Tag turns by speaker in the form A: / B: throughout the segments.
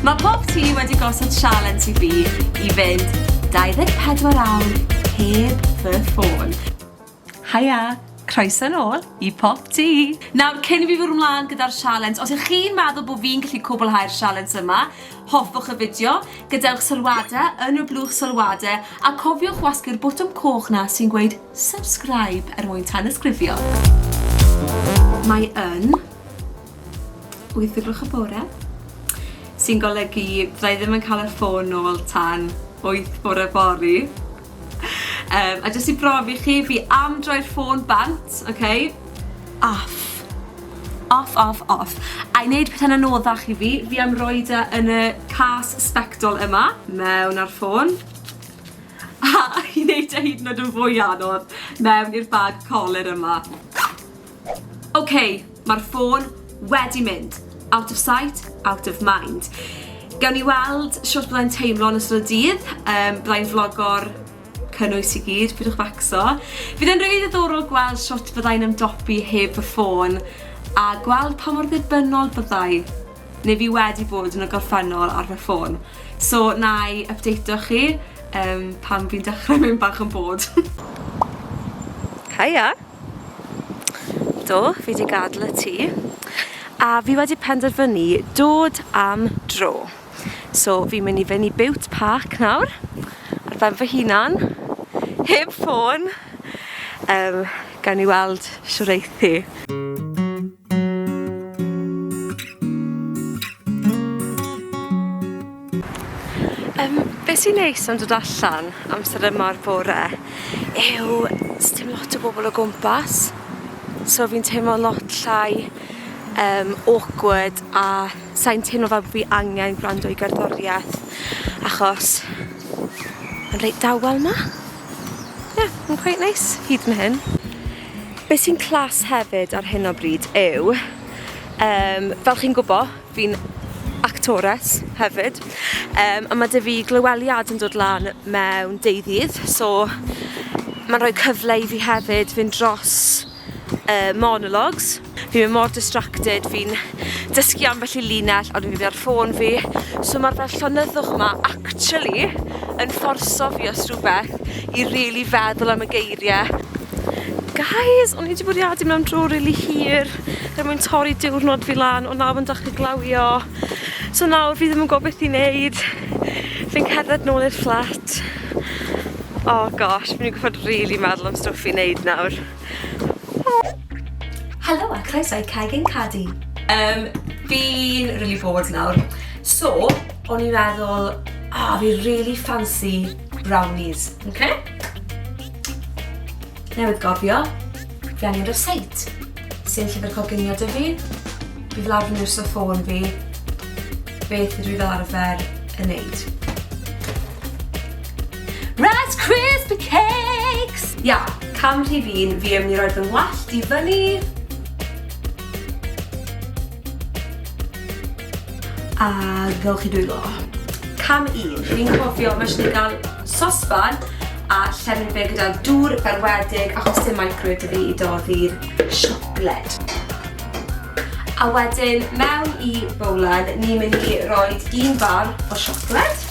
A: Mae pob tŷ wedi gosod sialens i fi i fynd 24 awr heb fy ffôn. Haia, croeso nôl i Pop Tŷ! Nawr, cyn i fi fwrw mlaen gyda'r sialens, os ych chi'n meddwl bod fi'n gallu cwblhau'r sialens yma, hoffwch y fideo, gadewch sylwadau yn y blwch sylwadau, a cofiwch wasgu'r botwm coch na sy'n gweud subscribe er mwyn tanysgrifio. Mae yn. wyth o gloch y bore, sy'n golygu fydda i ddim yn cael y ffôn nôl tan wyth bore fory. Um, a jyst i brofi chi, fi am droi'r ffôn bant, oce? Okay? Off. Off, off, off. A i wneud pethau'n anoddach i fi, fi am roi da e yn y cas spectol yma, mewn ar ffôn. A i wneud e hyd yn oed yn fwy anodd, mewn i'r bag coler yma. Ok, mae'r ffôn wedi mynd. Out of sight, out of mind. Gawn ni weld shwt byddai'n teimlo yn ystod y dydd. Um, byddai'n vlogo'r cynnwys i gyd, pidwch facso. Fydd e'n rili ddiddorol gweld shwt byddai'n ymdopi heb fy ffôn a gweld pa mor ddibynnol byddai neu fi wedi bod yn y gorffennol ar fy ffôn. So, na i updateo chi um, pan fi'n dechrau mynd bach yn bod. Hiya! Do, fi wedi gadel y tŷ a fi wedi penderfynu dod am dro. So fi'n mynd i fynd i Bute Park nawr ar ben fy hunan, heb ffôn, yym gawn ni weld shwd eith hi. Yym, be sy'n neis am dod allan amser yma o'r bore yw sdim lot o bobl o gwmpas, so fi'n teimlo'n lot llai yym awkward a sai'n teimlo fel bo' fi angen gwrando i gerddoriaeth achos ma'n reit dawel 'ma. Ie, ma'n cweit neis hyd yn hyn. Be sy'n clas hefyd ar hyn o bryd yw, um, fel chi'n gwybod, fi'n actores hefyd, um, a mae dy fi glyweliad yn dod lan mewn deuddydd, so mae'n rhoi cyfle i fi hefyd fynd dros uh, monologues, Fi mor distracted, fi'n dysgu ambell i linell ond fi ar ffôn fi, so ma'r fel llonyddwch 'ma actually yn fforso fi os rhywbeth i rili feddwl am y geirie. Guys, o'n i 'di bwriadu mynd am dro rili hir er mwyn torri diwrnod fi lan ond nawr ma'n dechre glawio, so nawr fi ddim yn gwbo beth i neud. Fi'n cerdded nôl i'r fflat. Oh gosh, fi myn' i gorffod rili meddwl am stwff i neud nawr. Helo a croeso i Craig and Caddy. Um, fi'n really bored nawr. So, o'n i'n meddwl, ah, oh, fi really fancy brownies. Okay? Newydd gofio, fi angen receit. Sy'n llyfr coginio dy fi, bydd lawr yn yw'r ffôn fi, beth ydw i fel arfer yn neud. Rice Krispie Cakes! Ia, cam rhif un, fi am ni roed fy ngwallt i fyny. A gawch chi dwylo. Cam un, fi'n cofio mae eisiau gael sosban a llefyn fe gyda dŵr berwedig achos dim microwave dy fi i doddi'r siocled. A wedyn, mewn i bowlen, ni'n mynd i roi un bar o siocled.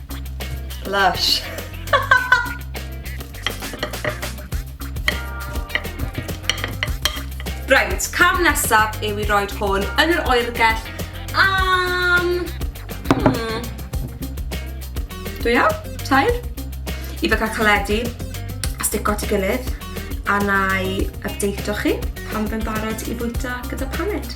A: Lush. Reit, cam nesaf yw i roed hwn yn yr oergell am... Hmm. Dwy awr? Tair? I fe cael caledu a stico at ei gilydd a na i updateio chi pan fe'n barod i fwyta gyda paned.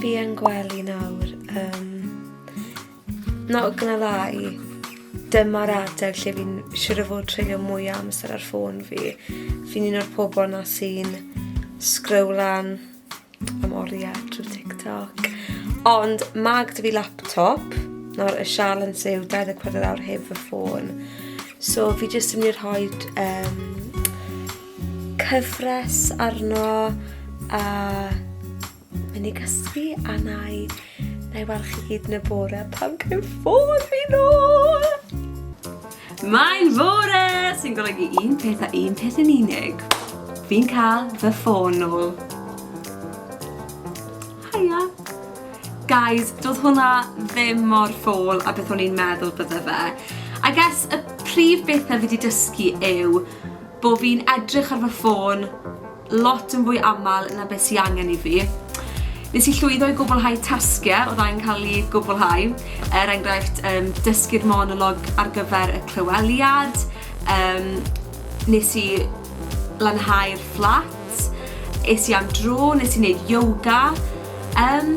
A: Fi yn gwely nawr. Um, not gonna lie, dyma'r adeg lle fi'n siwr o fod treulio mwy amser ar ffôn fi. Fi'n un o'r pobol na sy'n sgrowlan am oriau trwy TikTok. Ond mae gyda fi laptop, nawr y sialens yw 24 awr heb fy ffôn. So fi jyst yn mynd i rhoi um, cyfres arno a mynd i gysgu a na i Na i weld chi hyd yn y bore pan gael ffôn fi nôl! Mae'n fore! Sy'n golygu un peth a un peth yn unig. Fi'n cael fy ffôn nôl. Haia! Guys, doedd hwnna ddim mor ffôl a beth o'n i'n meddwl bydde fe. I guess y prif bethau fi wedi dysgu yw bod fi'n edrych ar fy ffôn lot yn fwy aml na beth sy angen i fi. Nes i llwyddo i gwblhau tasgiau oedd angen cael ei gwblhau, er enghraifft um, dysgu'r monolog ar gyfer y clyweliad, um, nes i lanhau'r fflat, es i am dro, nes i wneud yoga, um,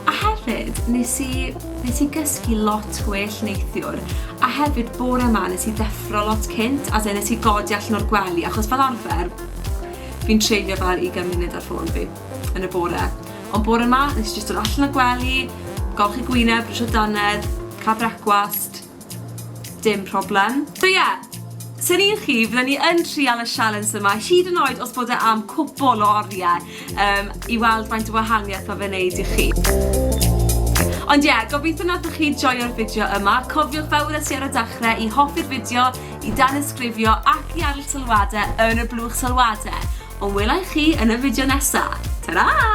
A: a hefyd nes i, nes i gysgu lot gwell neithiwr, a hefyd bore yma nes i ddeffro lot cynt, as in nes i godi allan o'r gwely, achos fel arfer, Fi'n treulio fel ugain munud ar ffôn fi yn y bore. Ond bore ma, nes i jyst dod allan o'r gwely, golchi gwyneb, brwsio dannedd, cael brecwast. Dim problem. So ie, os o'n i'n chi, fydden i yn trial y sialens yma, hyd yn oed os bod e am cwpwl o oriau. um, i weld faint o wahaniaeth mae fe'n neud i chi. Ond ie, yeah, gobeithio nathoch chi joio'r fideo yma. Cofiwch fel wnes i ar y dechrau i hoffi'r fideo, i dan ysgrifio ac i arll sylwadau yn y blwch sylwadau. Ond welai chi yn y fideo nesaf. Ta-ra!